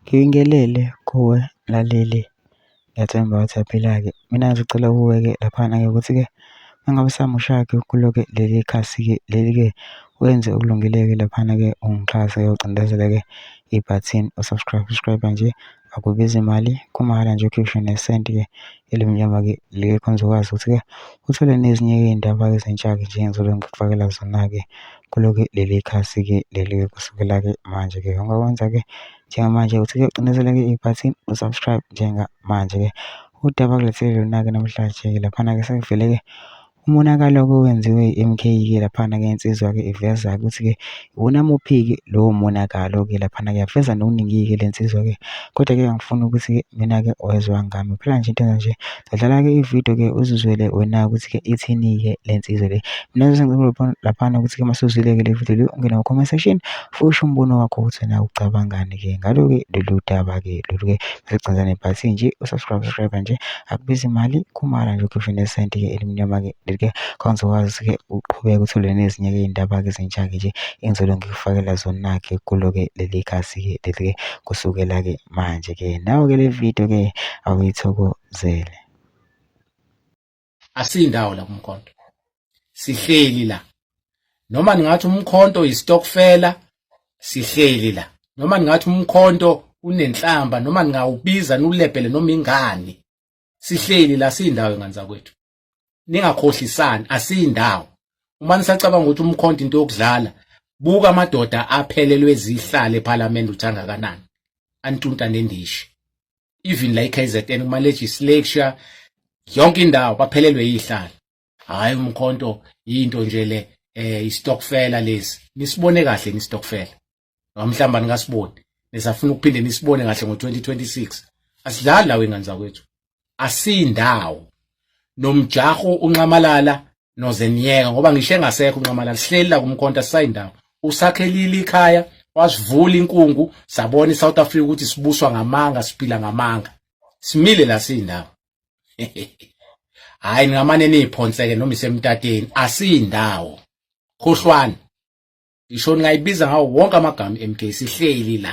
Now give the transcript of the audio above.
Ngibingelele kuwe mlaleli, ngiyathemba ukuthi uyaphila-ke. Mina ngisacela kuwe-ke laphana-ke ukuthi-ke uma ngabe usamusha-ke kulo-ke leli khasi-ke leli-ke wenze okulungile-ke laphana-ke ungixhase ucindezele-ke ibhathini u-subscribe, subscribe-a nje akubizi mali kumahhala nje ukhiphe nesenti-ke elimnyama-ke leli khona uzokwazi ukuthi-ke uthole nezinye-ke iy'ndaba ezintsha-ke njengezobe ngikufakela zona-ke Kaloku leli khasi ke leli ke kusukela ke manje ke yonke okwenza ke njengamanje uthi ke ucinezele ke ibhathi u-subscribe njengamanje ke udaba kulethele lona ke namhlanje ke laphana ke sekuvele ke umonakalo ke owenziwe i-MK ke laphana ke insizwa ke iveza ukuthi ke iwona muphi ke lowo monakalo ke laphana ke yaveza nokuningi ke le nsizwa ke kodwa ke angifuni ukuthi ke mina ke oyezwa ngami phela nje into enje Dlala-ke ividiyo-ke uzizwele wena-ke ukuthi-ke ithini-ke le nsizwa le. Mina laphana ukuthi-ke uma sewuzwile-ke le vidiyo le ungene ku-comment section futhi usho umbono wakho ukuthi wena ucabangani-ke ngalo-ke lolu daba-ke lolu-ke seligcina nebhathi nje usubscribe subscribe nje akubizi imali khumala nje ukhiphe nesenti-ke elimnyama-ke leli-ke khawuzokwazi-ke uqhubeke uthole nezinye-ke iy'ndaba-ke ezintsha-ke nje engizolo ngikufakela zona-ke kulo-ke leli khasi-ke leli-ke kusukela-ke manje ke nawe ke le video ke awuyithokozele asindawo la kumkhonto sihleli la noma ningathi umkhonto yistokfela sihleli la noma ningathi umkhonto unenhlamba noma ningawubiza nulebhele noma ingani sihleli la sindawo ingane zakwethu ningakhohlisani asiyindawo uma nisacabanga ukuthi umkhonto into yokudlala buka amadoda aphelelwe zihlale eParliament uthanga kanani antunta nendishi even la iKZN kuma legislature yonke indawo baphelelwe yihlala hayi umkhonto into nje le eh istokfela lesi nisibone kahle nistokfela noma mhlawumbe aningasiboni nisafuna ukuphinde nisibone kahle ngo-2026 asidlali lawo ingane zakwethu asindawo nomjaho unqamalala nozeniyeka ngoba ngisho engasekho unqamalala sihleli la kumkhonta sisayindawo usakhelile ikhaya wasivula inkungu sabona iSouth Africa ukuthi sibuswa ngamanga siphila ngamanga simile la siyindawo hayi ningamane niphonseke noma isemtateni asiyindawo khohlwani ngisho ningayibiza ngawo wonke amagama MK sihleli la